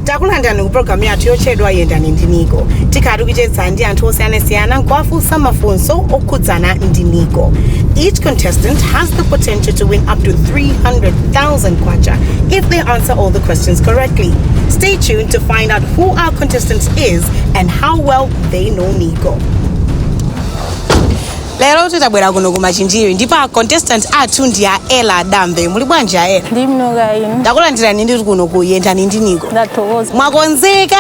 takulandirani ku programu yathu yotchedwa yendani ndi NICO tikhala tikucheza ndi anthu osiyanasiyana nkuwafunsa mafunso okhudzana ndi NICO each contestant has the potential to win up to 300 thousand kwacha if they answer all the questions correctly. Stay tuned to find out who our contestant is and how well they know NICO. lero tabwera kuno ku Machinjiri ndipo a contestant athu ndi a Ella Dambe muli bwanji a Ella ndili bwino kaya inu ndakulandirani ndithu kuno ku Yendani ndi NICO ndathokoza mwakonzeka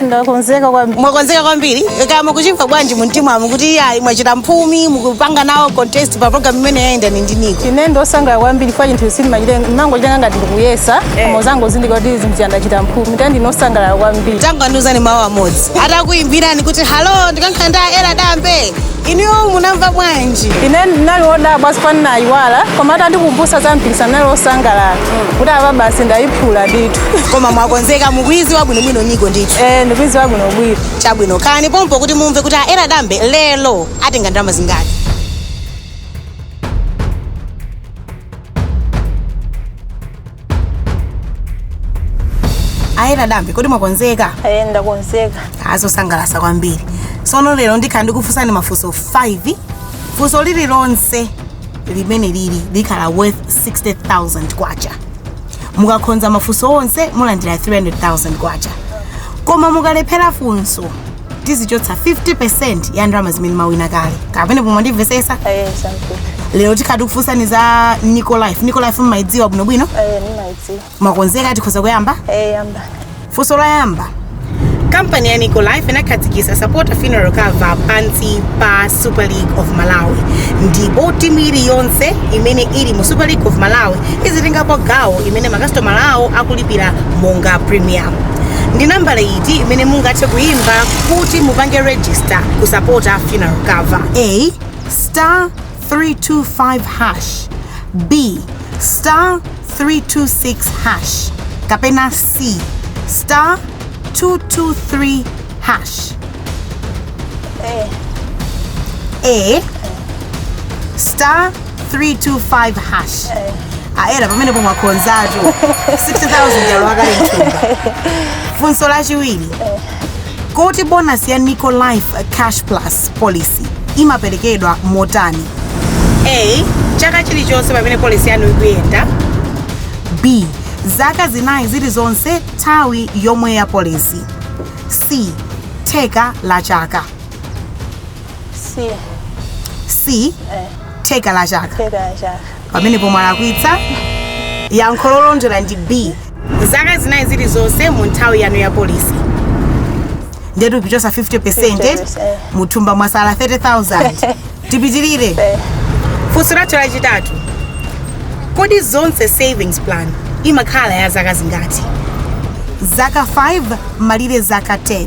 ndakonzeka kwambiri mwakonzeka kwambiri kaya mukuchimva bwanji mu mtimamu kuti iyayi mwachita mphumi mukupanga nawo contest pa program imene ya Yendani ndi NICO ine ndosangala kwambiri kwa chinthu sindimachite mangocitenga ngati ndikuyesa koma uzangozindikira kuti zinthu chandachita mphumi ta ndinosangalala kwambiri tangandiuzani mawu amodzi atakuimbirani kuti halo ndikuyankhula ndi a Ella Dambe Inuyo munamva bwanji? ine ndinali wodabwa sipani nayiwala koma atandikumbutsa za mpikisano ndinali wosangalala kuti apa basi ndayiphula ndithu Koma mwakonzeka mukuiziwa bwinobwino NICO ndithu. Eh, ndikuiziwa bwinobwino Chabwino khalani pompo kuti mumve kuti a Ella Dambe lero atenga ndalama zingati. a Ella Dambe kodi mwakonzeka Eh, ndakonzeka aa zosangalasa kwambiri tsono lero ndikhala ndikufunsani mafunso 5 funso lililonse limene lili likhala worth 60000 kwacha mukakhonza mafunso onse mulandira 300000 kwacha koma mukalephera funso tizichotsa 50% ya ndalama zimene mwawina kale kaya pamenepo mwandimvesesa Eh, sankuti. lero tikhala tikufunsani za NICO Life NICO Life mmayidziwa bwinobwino Eh, nimaidziwa. mwakonzeka tikhoza kuyamba Eh, yamba. funso loyamba kampani ya NICO Life inakhazikitsa supporter funeral cover pansi pa super league of malawi ndipo timu iliyonse imene ili mu super league of malawi izitengapo gawo imene makasitomala awo akulipira monga premium ndi nambala iyi D imene mungathe kuyimba kuti mupange register kusapota funeral cover. A star 325 hash B star 326 hash kapena C star 223 hash A star 325 hash a Ella pamenepo mwakhonzatu 60000 yalowa kale mthumba funso lachiwiri kodi bonasi ya NICO Life cash plus policy imaperekedwa motani a chaka chilichonse pamene polisi yanu ikuyenda b zaka zinayi zilizonse nthawi yomwe ya polisi c theka la chaka si c theka la chaka theka la chaka pamenepo mwalakwitsa yankho lolondola ndi b zaka zinayi zilizonse mu nthawi yanu ya polisi ndetu tichotsa 50 percent 50%. muthumba mwasala 30000 tipitirire Eh. funso lathu lachitatu kodi zonse savings plan imakhala ya zaka zingati zaka 5 malire zaka 10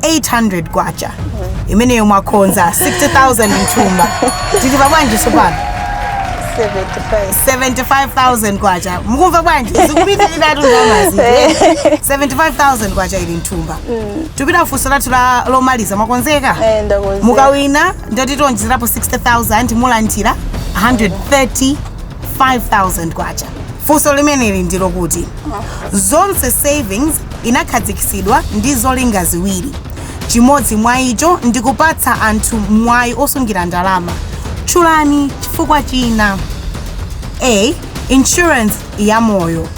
800 kwacha imeneyo mwakhonza 60000 mthumba tili pa bwanji sopano 75000 kwacha mukumva bwanji zikupitirira tuzamazi 75000 kwacha ili mthumba tipita funso lathu lomaliza mwakonzeka Eh, ndakonzeka. mukawina ndekuti tionjezerapo 60000 mulandira 135000 kwacha funso limeneli ndi lakuti zonse savings inakhazikitsidwa ndi zolinga ziwiri. Chimodzi mwa icho ndi kupatsa anthu mwayi osungira ndalama. Tchulani chifukwa china. A. Insurance ya moyo.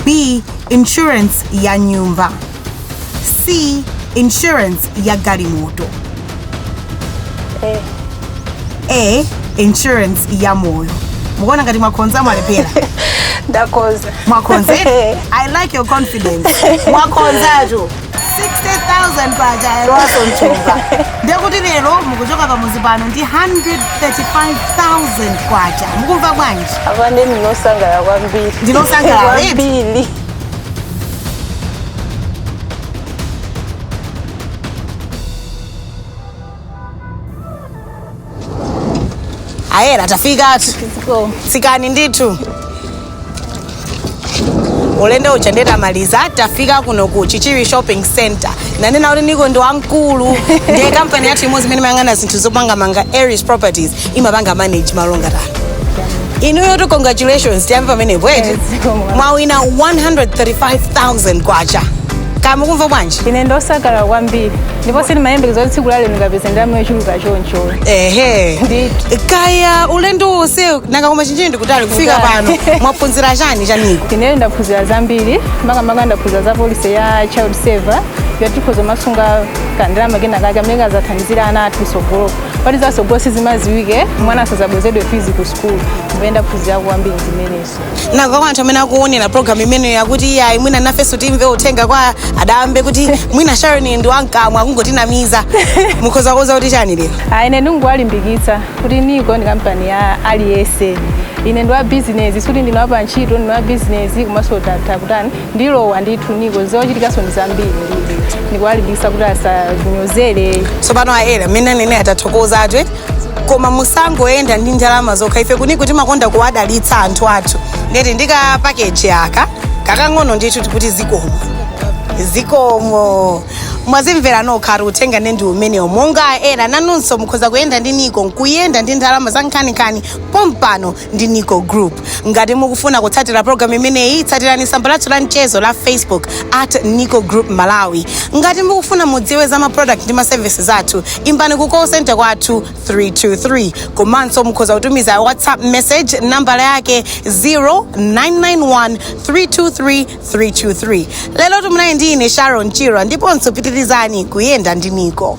B. Insurance ya nyumba. C. Insurance ya galimoto. a insurance ya moyo mukuona ngati mwakhonza mwalephera ndakoza mwakhonza i like your confidence mwakhonzatu 60000 kwacha yalowaso mthumba ndekuti lero mukuchoka pamuzi pano ndi 135000 kwacha mukumva bwanji apa ndine osangalala kwambiri Ndinu osangalala, eti? kwambiri ayera tafikatu tsikani ndithu ulendo uja nde tamaliza tafika kuno ku chichiri shopping center nanena kuti niko ndi yaikulu ndiye kampani yathu imodzi imene imayang'ana zinthu zopangamanga eris properties imapanga manage mall ngati ano inuyotu congratulations tiyambe pamenepo eti mwawina 135000 kwacha kaya mukumva bwanji ine ndosangalala kwambiri ndipo sindimayembekeza kuti tsiku la lero ndikapeza ndalama yochuluka choncho ehe Ndithu. kaya ulendo wonse nanga koma machinjiri ndikutali kufika pano Kutali. mwaphunzira chani chaniko ine ndaphunzira zambiri makamaka ndaphunzira za polisi ya child saver yoti tikhoza kumasunga kandalama kena kake amene kazathandizira ana athu sogolo poti za sogolo sizimaziwike mwana asazabwezedwe fizi ku sukulu kumene ndaphunzira kwambiri zimenezo nanga kwa anthu amene akuonera program imeneyo akuti iyayi mwina nafenso timve uthenga kwa a Dambe kuti mwina sharon ndi wankamwa akungotinamiza mukhoza kuwauza kuti chani lero Ah, ine ndingowalimbikitsa kuti nico ndi kampani ya aliyense ine ndi wa bizinesi sikuti ndine wa pantchito ndine wa bizinesi komanso ndatha kutani ndilowa ndithu nico zochitikanso ndi zambiri ndikuwalimbikitsa kuti asanyozere tsopano ayera mmene anenera atathokoza athu eti koma musangoyenda ndi ndalama zokha ife ku nico timakonda kuwadalitsa anthu athu nde eti ndi ka pakeji aka kakang'ono ndithu chokuti zikomo zikomo mwazimvera nokha atu uthenga nde ndi umenewo monga ena nanunso mukhoza kuyenda ndi nico nkuyenda ndi ndalama za nkhaninkhani pompano ndi nico group ngati mukufuna kutsatira programu imeneyi tsatirani tsamba lathu la mchezo la facebook at nico group malawi ngati mukufuna mudziwe za maproduct ndi maservices athu imbani ku call center kwathu 323 komanso mukhoza kutumiza whatsapp message nambala yake 0991 323 323 lero tumunayi ndi ine sharon chirwa ndiponso pitirizani kuyenda ndi nico